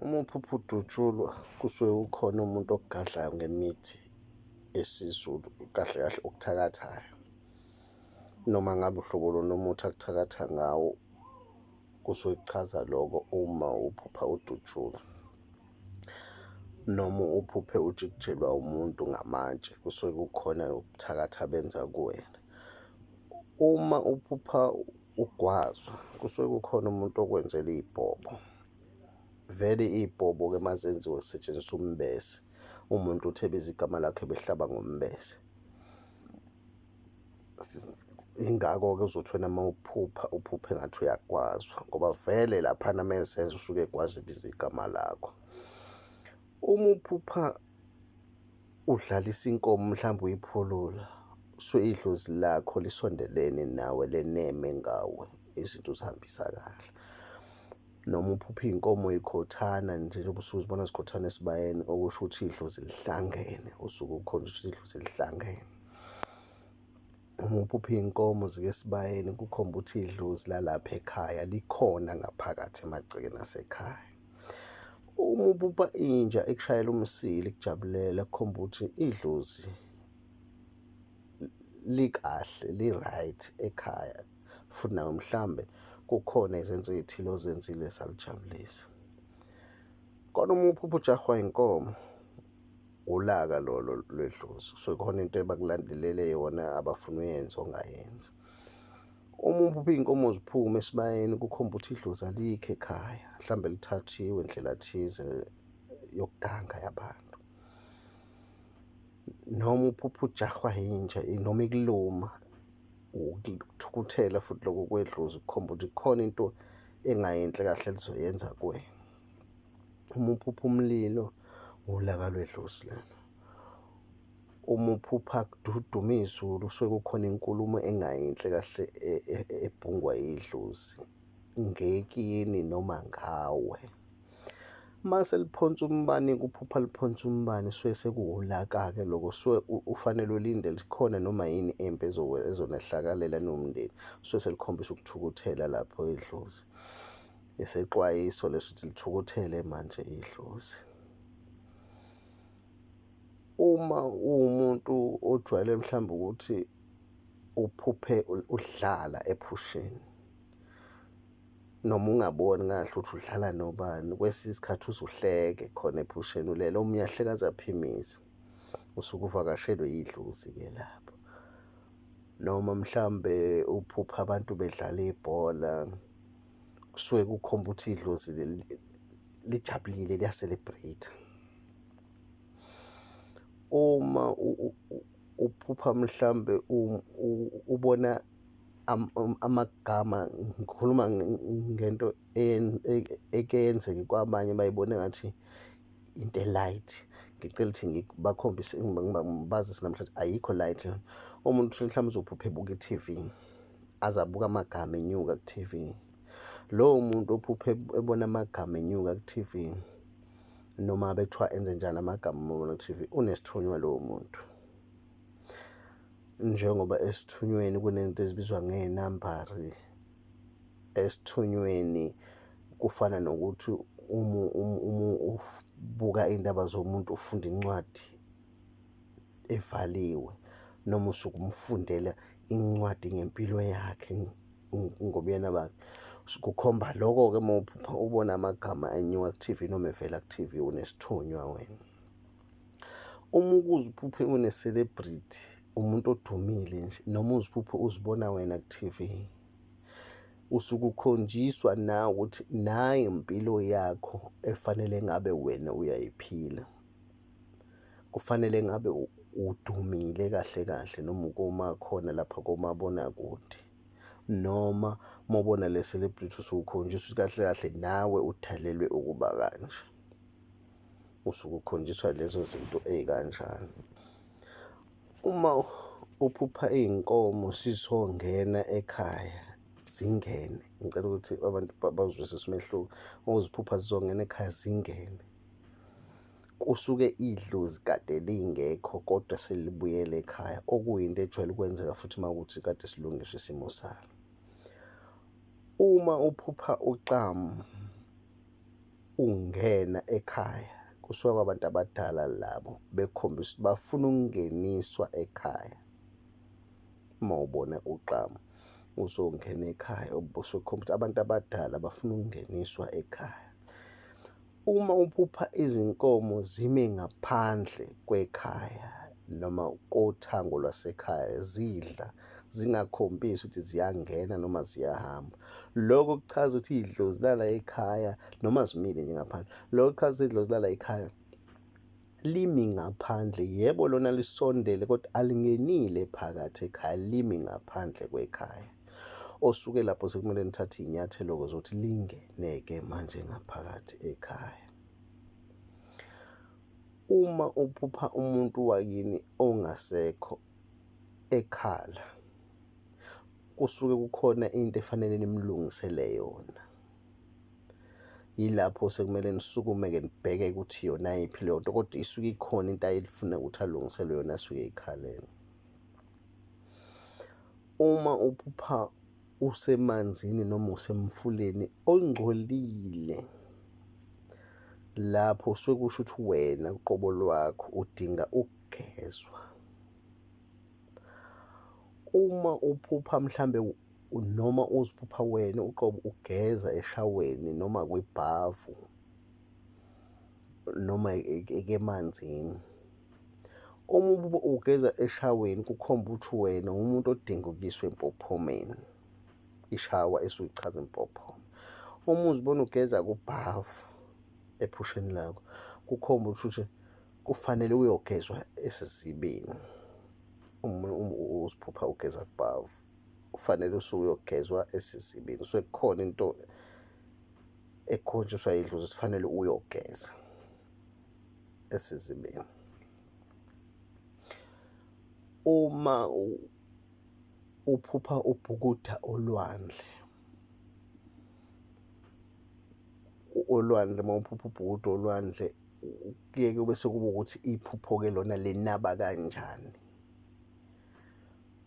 Uma uphupha udutshulwa kusuke kukhona umuntu okugadlayo ngemithi esiZulu kahle kahle okuthakathayo. Noma ngabe uhlobo luni umuthi akuthakatha ngawo kusuke kuchaza loko uma uphupha udutshulwa. Noma uphuphe ujikijelwa umuntu ngamatshe kusuke kukhona ubuthakathi abenza kuwena. Uma uphupha Ugwazwa kusuke kukhona umuntu okwenzela iy'bhobo. Vele iy'bhobo-ke uma zenziwe kusetshenziswa umbese, umuntu uthi ebiza igama lakhe behlaba ngombese. Yingakho-ke uzothi wena uma uphupha, uphuphe ngathi uyagwazwa ngoba vele laphana uma ezenza usuke egwaza ebiza igama lakho. Uma uphupha udlalisa inkomo mhlawumbe uyiphulula suke idlozi lakho lisondelene nawe leneme ngawe izinto uzihambisa kahle noma uphupha iy'nkomo y'khothana nje njengoba usuke uzibona zikhothana esibayeni okusho ukuthi idlozi lihlangene usuke ukhonza ukuthi idlozi lihlangene uma uphupha iy'nkomo zike esibayeni kukhomba ukuthi idlozi lalapha ekhaya likhona ngaphakathi emagcekeni asekhaya. Uma ubupa inja ekushayela umsili kujabulela kukhomba ukuthi idlozi likahle li-right ekhaya futhi nawe mhlambe kukhona izenzo ezithile ozenzile zalijabulisa. Kodwa uma uphupha ujahwa inkomo ulaka lolo lwedlozi kusuke khona into ebakulandelele yona abafuna uyenze ongayenzi. Uma uphupha iy'nkomo ziphuma esibayeni kukhomba ukuthi idlozi alikho ekhaya, mhlawumbe lithathiwe indlela thize yokuganga yabantu. Noma uphupha ujahwa yinja noma ikuluma, ukuthukuthela futhi lokho kwedlozi kukhomba ukuthi kukhona into engayinhle kahle lizoyenza kuwena. Uma uphupha umlilo, wulaka lwedlozi lona. uma uphupha kududuma izulu kusuke kukhona inkulumo engayinhle kahle e, e, ebhungwa idlozi ngekini noma ngawe mase liphonsa umbani kuphupha liphonsa umbani suke sekuwulaka-ke loko suke ufanele ulinde likhona noma yini empi ezonehlakalela nomndeni suke selikhombisa ukuthukuthela lapho idlozi esexwayiso leso ukuthi lithukuthele manje idlozi Uma uwumuntu ojwayele mhlawumbe ukuthi uphuphe udlala ephusheni noma ungaboni kahle ukuthi udlala nobani kwesinye isikhathi uzuhleke khona ephusheni ulele omunye ahleke aze aphimize usuke uvakashelwe yidlozi-ke lapho noma mhlawumbe uphuphe abantu bedlala ibhola. kusuke kukhomba ukuthi idlozi lijabulile liya-celebrate. Uma uphupha mhlawumbe ubona Um, amagama ngikhuluma ngento eke yenzeke kwabanye bayibone ngathi into e-light ngicela ukuthi ngibakhombise ngibazise namhlanje ayikho light umuntu mhlawumbe uzophupha ebuka i-T_V. aze abuke amagama enyuka ku-TV. Lowo muntu ophuphe ebona amagama enyuka ku-TV noma bekuthiwa enze njani amagama uma ubona ku-TV unesithunywa lowo muntu. Njengoba esithunyweni kunento ezibizwa ngey'nambari, esithunyweni kufana nokuthi ubuka iy'ndaba zomuntu ufunda incwadi evaliwe noma usuke umfundela incwadi ngempilo yakhe ngobuyena bakhe. Kukhomba loko-ke uma uphupha ubona amagama enyuka ku-T_V noma evela ku-T_V unesithunywa wena. Uma ukuze uphuphe une-celebrity umuntu odumile nje noma uziphuphe uzibona wena ku-T_V usuke ukhonjiswa nawe ukuthi nayi impilo yakho efanele ngabe wena uyayiphila. Kufanele ngabe udumile kahle kahle noma ukoma khona lapha komabonakude noma uma ubona le celebrity usukhonjiswa ukuthi kahle kahle nawe udalelwe ukuba kanje. Usuke ukhonjiswa lezo zinto ey'kanjalo. Uma uphupha iy'nkomo sisongena ekhaya zingene, ngicela ukuthi abantu bazwisise umehluko, uma uziphupha zizongena ekhaya zingene. Kusuke idlozi kade lingekho kodwa selibuyele ekhaya, okuyinto ejwayele ukwenzeka futhi uma kuwukuthi kade silungiswa isimo salo. Uma uphupha uxamu ungena ekhaya kusuka kwabantu abadala labo bekhombisa ukuthi bafuna ukungeniswa ekhaya. Uma ubona uxamu uzongena ekhaya ubusukhombisa abantu abadala bafuna ukungeniswa ekhaya. Uma uphupha izinkomo zime ngaphandle kwekhaya noma kothango lwasekhaya zidla zingakhombisi ukuthi ziyangena noma ziyahamba. Loko kuchaza ukuthi idlozi lala ekhaya noma zimile nje ngaphandle. Loko kuchaza ukuthi idlozi lala ekhaya. Limi ngaphandle, yebo lona lisondele kodwa alingenile phakathi ekhaya, limi ngaphandle kwekhaya. Osuke lapho sekumele nithathe iy'nyathelo-ke zokuthi lingene-ke manje ngaphakathi ekhaya. Uma uphupha umuntu wakini ongasekho ekhala, kusuke kukhona into efanele nimlungisele yona. yilapho sekumele nisukume-ke nibheke ukuthi yona yiphi leyo nto kodwa isuke ikhona into ayelifuna ukuthi alungiselwe yona asuke eyikhalele uma uphupha usemanzini noma usemfuleni ongcolile lapho usuke kusho ukuthi wena uqobo lwakho udinga ukugezwa uma uphupha mhlambe noma uziphupha wena uqobo ugeza eshaweni noma kwibhavu noma ekemanzini uma ububa ugeza eshaweni kukhomba ukuthi wena umuntu odinga ukuyiswa empophomeni ishawa esuke ichaza impophoma uma uzibona ugeza kubhavu ephusheni lakho kukhomba ukuthi kufanele uyogezwa esizibeni uma uziphupha ugeza kubhavu kufanele usuke uyogezwa esizibini usuke kukhona into ekhonjiswa idlozi sifanele uyogeza esizibeni uma uphupha ubhukuda olwandle olwandle uma uphupha ubhukuda olwandle kuye kube sekuba ukuthi iphupho-ke lona linaba kanjani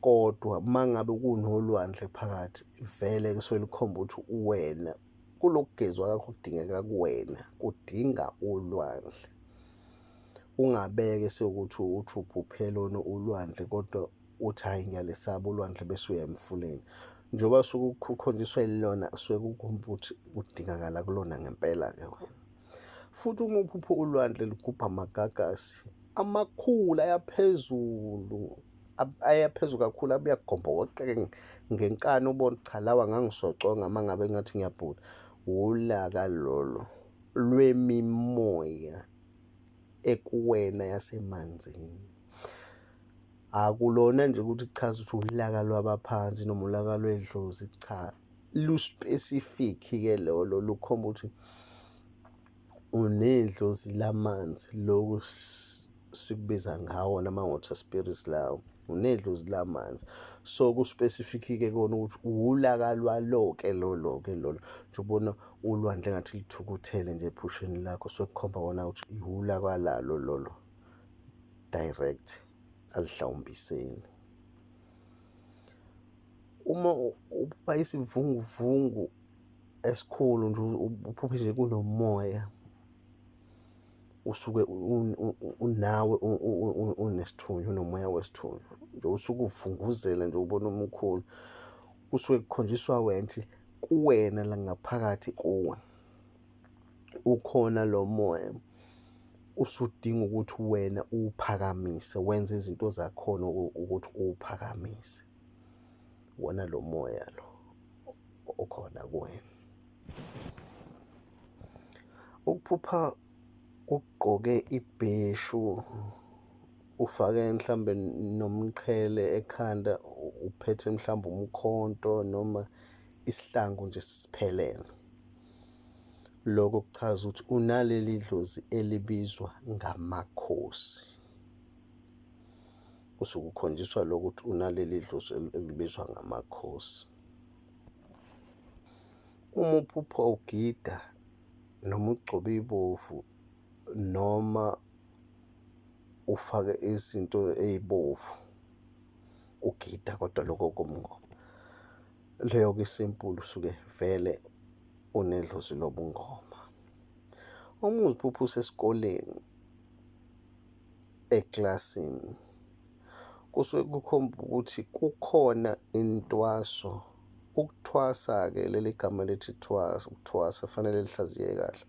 Kodwa mangabe kunolwandle phakathi vele kusuke likhomba ukuthi uwena kulokugezwa kakho kudingeka kuwena kudinga ulwandle. Ungabeke sekuthi uthi uphuphe lona ulwandle kodwa uthi hhayi ngiyalesaba ulwandle bese uya emfuleni. Njengoba suke ukhonjiswe lona suke ukuthi kudingakala kulona ngempela-ke wena. Futhi uma uphupha ulwandle ligubha amagagasi amakhulu ayaphezulu ayaphezulu kakhulu abuya kugombokoqeke ngenkani ubona cha lawa ngangisoconga uma ngabe ngathi ngiyabhula wulaka lolo lwemimoya ekuwena yasemanzini akulona nje ukuthi kuchaza ukuthi ulaka lwabaphansi noma ulaka lwedlozi cha luspecific ke lolo lukhomba ukuthi unedlozi lamanzi loku sikubiza ngawo nama-water spirits lawo unedlozi lamanzi so kuspecific-ke kona ukuthi uwulaka lwalo-ke lolo-ke lolo njengobona ulwandle ngathi lithukuthele nje ephusheni lakho so kukhomba kona ukuthi iwula kwalalo lolo direct alihlawumbiseni Uma uphupha isivunguvungu esikhulu nje uphuphe nje kunomoya usuke unawe unesithunywa unomoya wesithunywa nje usuke uvunguzela nje ubona umkhulu kusuke kukhonjiswa wenthi kuwena la ngaphakathi kuwe ukhona lo moya usudinga ukuthi wena uwuphakamise wenze izinto zakhona ukuthi uwuphakamise. wona lo moya lo okhona kuwena. Ukuphupha ugqoke ibheshu ufake mhlambe nomqhele ekhanda uphethe mhlambe umkhonto noma isihlangu nje siphelele. Lokho kuchaza ukuthi unaleli dlozi elibizwa ngamakhosi. usuke ukhonjiswa lokuthi unaleli dlozi elibizwa ngamakhosi uma uphupha ugida noma ugcobe ibovu noma ufake izinto ezibovu ugida kodwa lokho komngoma leyo ke simple usuke vele unedlozi lobungoma uma uziphupha usesikoleni ekilasini kusuke kukhomba ukuthi kukhona intwaso ukuthwasa-ke leli gama lithi thwasa ukuthwasa kufanele lihlaziye kahle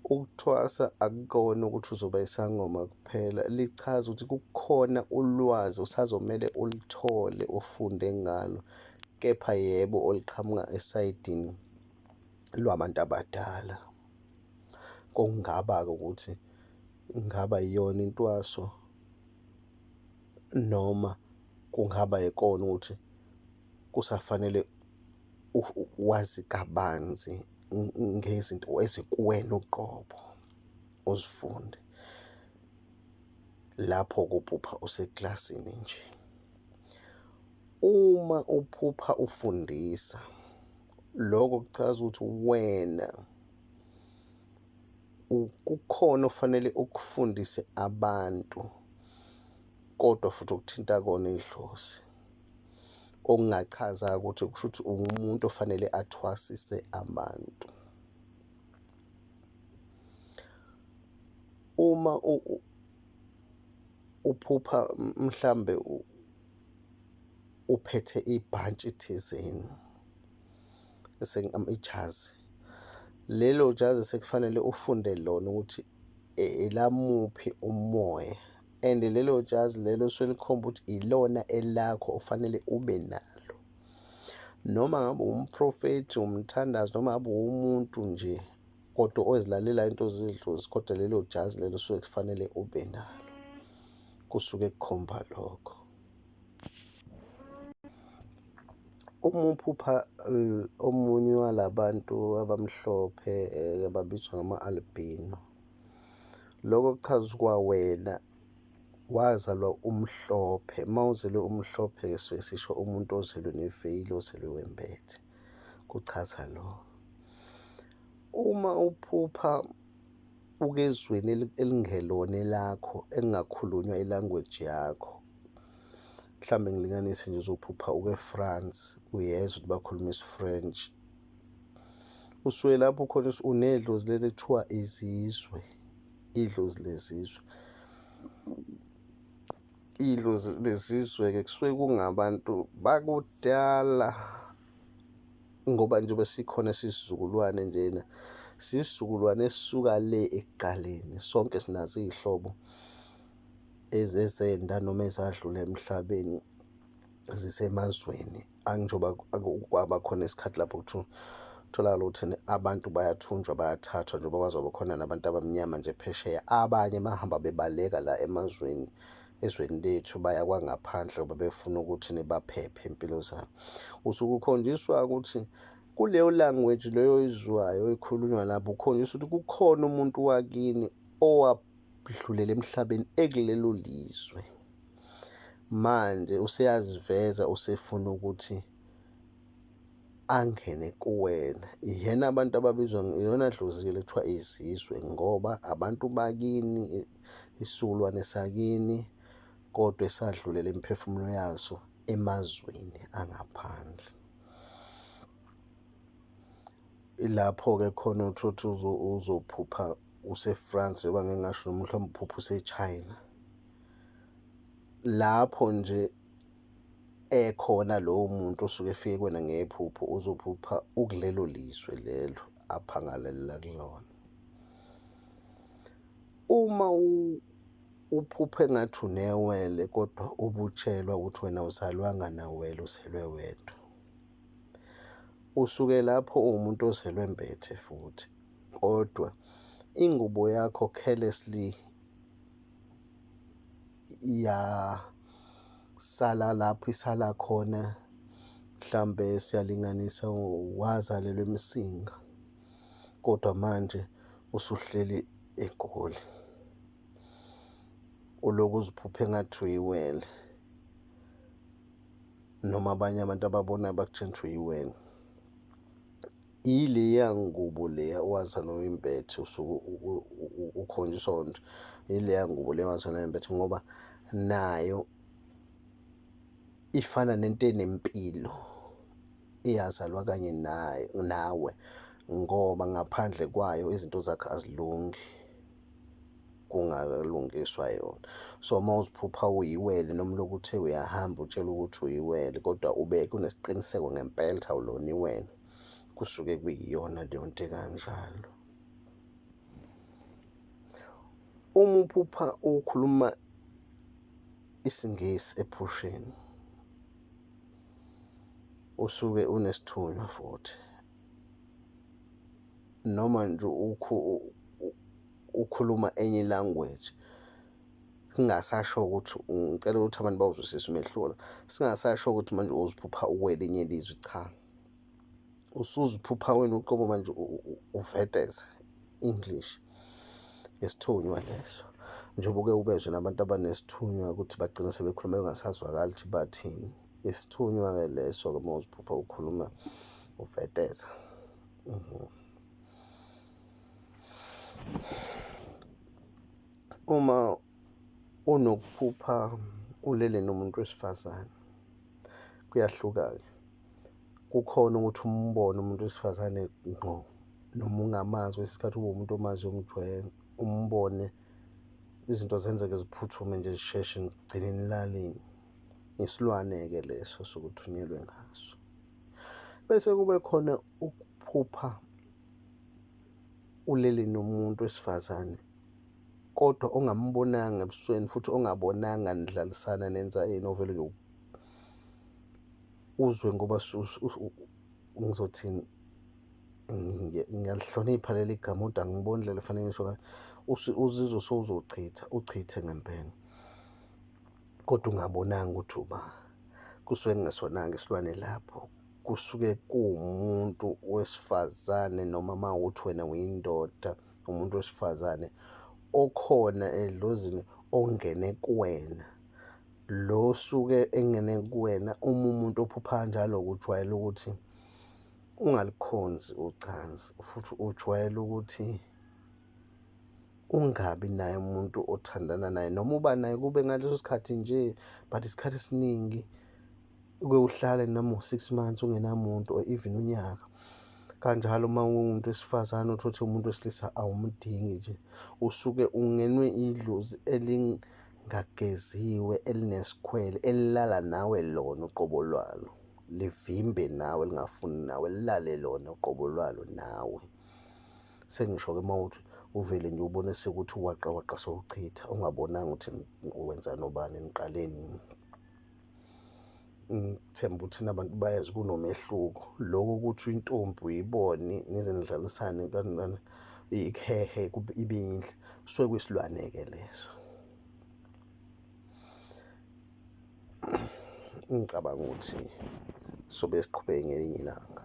ukuthwasa akukona ukuthi uzoba isangoma kuphela lichaza ukuthi kukhona ulwazi usazomele ulithole ufunde ngalo kepha yebo oliqhamuka esayidini lwabantu abadala kungaba-ke ukuthi Kungaba iyona intwaso noma kungaba ikona ukuthi kusafanele wazi kabanzi ngezinto ezikuwena uqobo uzifunde lapho kuphupha usekilasini nje. Uma uphupha ufundisa loko kuchaza ukuthi uwena. kukhona ofanele ukufundise abantu kodwa futhi ukuthinta kona idlozi okungachaza ukuthi kusho ukuthi ungumuntu ofanele athwasise abantu uma uphupha mhlambe uphethe ibhantshi thizeni ijazi lelo jazi sekufanele ufunde lona ukuthi e, elamuphi umoya and lelo jazi lelo selikhomba ukuthi ilona elakho ofanele ube nalo noma ngabe umprofethi umthandazi noma ngabe umuntu nje kodwa ozilalela into zidlozi kodwa lelo jazi lelo suke kufanele ube nalo kusuke kukhomba lokho Uma uphupha omunye wala bantu abamhlophe ababizwa ngama-albino, loko kuchaza ukuba wena wazalwa umhlophe, uma uzelwe umhlophe suke sisho umuntu ozelwe neveyili, ozelwe wembethe, kuchaza loko. Uma uphupha. ukezweni elingelona elakho engakhulunywa ilanguage yakho mhlawumbe ngilinganise nje uzophupha uke-france uyezwa ukuthi bakhuluma isifrench usuke lapho khona unedlozi leli kuthiwa izizwe idlozi lezizwe idlozi lezizwe-ke kusuke kungabantu bakudala ngoba njengoba sikhona sisizukulwane njena sisizukulwane esisuka le ekuqaleni sonke sinazo iy'hlobo ezezenda noma ezadlula emhlabeni zisemazweni anjengoba kwaba khona isikhathi lapho kuthiwa kutholakala ukuthi abantu bayathunjwa bayathathwa njengoba kwazoba khona nabantu abamnyama nje phesheya abanye bahamba bebaleka la emazweni ezweni lethu baya kwangaphandle ngoba befuna ukuthi nibaphephe impilo zabo usuke ukhonjiswa ukuthi kuleyo language leyo izwayo ekhulunywa lapho ukhonjiswa ukuthi kukhona umuntu wakini owadlulela emhlabeni ekulelo lizwe manje useyaziveza usefuna ukuthi angene kuwena ihena abantu ababizwa iyona dlozi kuthiwa izizwe ngoba abantu bakini isilwane sakini kodwa esadlulela imiphefumulo yaso emazweni angaphandle ilapho-ke khona uthotha uzophupha use-France yoba ngeke ngasho noma mhlawumbe uphupha use-China lapho nje ekhona lowo muntu osuke efike kwena ngephupho uzophupha ukulelo lizwe lelo aphangalelila kulona. Uma uphupha engathi unewele kodwa ubutshelwa ukuthi wena awuzalwanga nawele uzelwe wedwa. Usuke lapho uwumuntu ozelwe mbethe futhi kodwa ingubo yakho carelessly yasala lapho isala khona mhlambe siyalinganisa wazalelwa emsinga. kodwa manje usuhleli eGoli. Ulokhu uziphupha engathi uyiwele noma abanye abantu ababonayo bakutshela ukuthi uyiwele. Ileya ngubo leya owazalwa uyimbethe usuke ukhonjiswa wona ukuthi ileya ngubo leya owazalwa uyimbethe ngoba nayo ifana nento enempilo. eyazalwa kanye naye nawe ngoba ngaphandle kwayo izinto zakhe azilungi kungalungiswa yona so uma uziphupha uyiwele noma lokhu uthe uyahamba utshela ukuthi uyiwele kodwa ube kunesiqiniseko ngempela ukuthi awulona iwena kusuke kuyiyona leyo nto ekanjalo uma uphupha ukhuluma isingesi ephusheni usuke unesithunywa futhi noma nje ukhuluma enye language kungasasho ukuthi ngicela ukuthi abantu bawuzwisise umehluko la, singasasho ukuthi manje uziphupha ukwelinye lizwe cha. usuziphupha wena uqobo manje uveteza English yesithunywa leso njengoba uke ubezwe nabantu abanesithunywa ukuthi bagcina sebekhuluma bengasazwakali ukuthi bathini isithunywa-ke leso-ke uma uziphupha ukhuluma uveteza mhm. uma unokuphupha ulele nomuntu wesifazane kuyahluka-ke kukhona ukuthi umbone umuntu wesifazane ngqo noma ungamazi kwesinye isikhathi ube umuntu omaziyo umjwayele umbone izinto zenzeke ziphuthume nje zisheshe ngigcine nilalini isilwane-ke leso sokuthunyelwe ngaso bese kube khona ukuphupha ulele nomuntu wesifazane kodwa ongambonanga ebusweni futhi ongabonanga nidlalisana nenza yini ovele nje uzwe ngoba ngizothini ngiyalihlonipha leli gama kodwa angiboni indlela efanele ngisho uzizwe sowuzochitha uchithe ngempela kodwa ungabonanga ukuthi uba kusuke kungesona-ke isilwane lapho kusuke kuwumuntu wesifazane noma uma ukuthi wena uyindoda umuntu wesifazane okhona edlozini ongene kuwena Lo osuke engene kuwena uma umuntu ophupha njalo kujwayele ukuthi ungalikhonzi ucansi futhi ujwayele ukuthi ungabi naye umuntu othandana naye noma uba naye kube ngaleso sikhathi nje but isikhathi esiningi uke uhlale noma u-six months ungenamuntu or even unyaka kanjalo uma ungumuntu wesifazane uthi uthi umuntu wesilisa awumdingi nje usuke ungenwe idlozi ngageziwe elinesikhwele elilala nawe lona uqobo lwalo livimbe nawe lingafuni nawe lilale lona uqobo lwalo nawe sengisho-ke uma uthi uvele nje ubone sekuthi uwaqa waqa sowuchitha ungabonanga ukuthi wenza nobani niqaleni ngithemba ukuthi nabantu bayazi kunomehluko lokho ukuthi intombi uyibone nize nidlalisane kanjani ikhehe ibe yinhle suke kwisilwane-ke leso ngicabanga ukuthi sobe siqhubeke ngelinye ilanga